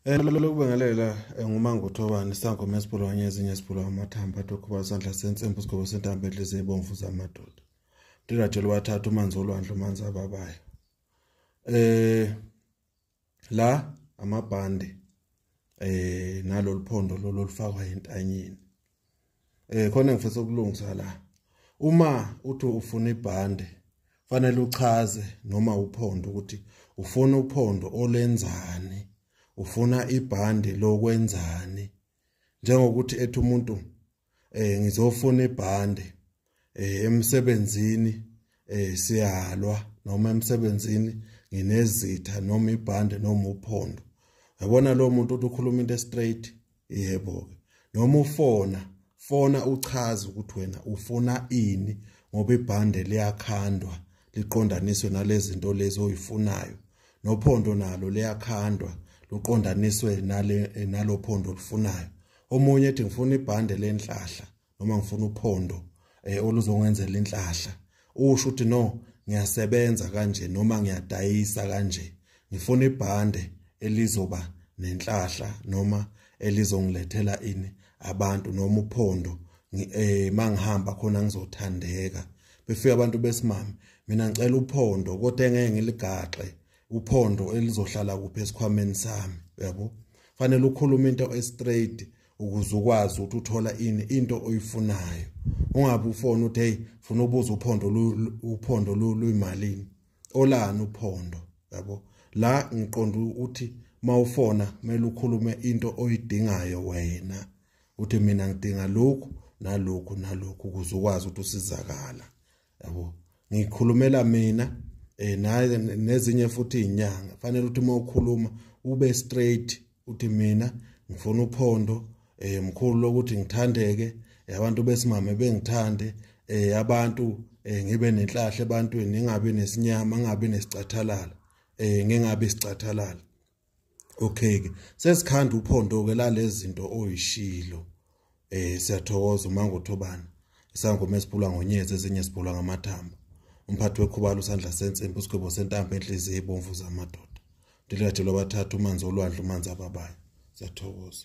Eh, lokubingelela eh, ngumanguthobani isangoma esibulwanye ezinye esibulwa amathambo athi ukhuba isandla sensimbi isigobo sentambo edlize ibomvu zamadoda ndinajelo wathatha umanzi olwandle umanzi ababayo eh la amabhande eh nalolu phondo lolu olufakwa entanyeni eh khona ngifisa ukulungisa la uma uthi ufuna ibhande fanele uchaze noma uphondo ukuthi ufuna uphondo olenzani ufuna ibhande lokwenzani njengokuthi ethi umuntu eh ngizofuna ibhande eh emsebenzini eh siyalwa noma emsebenzini nginezitha noma ibhande noma uphondo yabona lo muntu uthi ukhuluma into straight yebo ke noma ufona fona uchaze ukuthi wena ufuna ini ngoba ibhande liyakhandwa liqondaniswe nalezinto lezi oyifunayo nophondo nalo liyakhandwa luqondaniswe nale nalophondo olufunayo omunye ethi ngifuna ibhande lenhlahla noma ngifuna uphondo eh oluzongenzela inhlahla usho ukuthi no ngiyasebenza kanje noma ngiyadayisa kanje ngifuna ibhande elizoba nenhlahla noma elizongilethela ini abantu noma uphondo eh mangihamba khona ngizothandeka befika abantu besimame mina ngicela uphondo kodwa engeke ngiligaxe uphondo elizohlala kuphi esikhwameni sami yabo fanele ukhulume into estraight ukuze ukwazi ukuthi uthola ini into oyifunayo ungabe ufona ukuthi hey funa ubuza uphondo uphondo luyimalini olani uphondo yabo la ngiqonda ukuthi mawufona kumele ukhulume into oyidingayo wena uthi mina ngidinga lokhu nalokhu nalokhu ukuze ukwazi ukuthi usizakala yabo ngikhulumela mina eh naye nezinye futhi inyanga fanele ukuthi uma ukhuluma ube straight uthi mina ngifuna uphondo eh mkhulu lokuthi ngithandeke eh, abantu besimame bengithande eh abantu eh, ngibe nenhlahle ebantwini ngingabi nesinyama ngingabi nesicathalala eh ngingabi isicathalala okay ke sesikhanda uphondo ke lalezinto oyishilo eh siyathokoza uma ngothobana isangoma esiphulwa ngonyezi ezinye siphulwa ngamathamba umphathi wekhubalo usandla sensimbi usigwebo sentambo enhliziyo ebomvu zamadoda ndilikathelo bathathu umanzi olwandle umanzi ababayo siyathokoza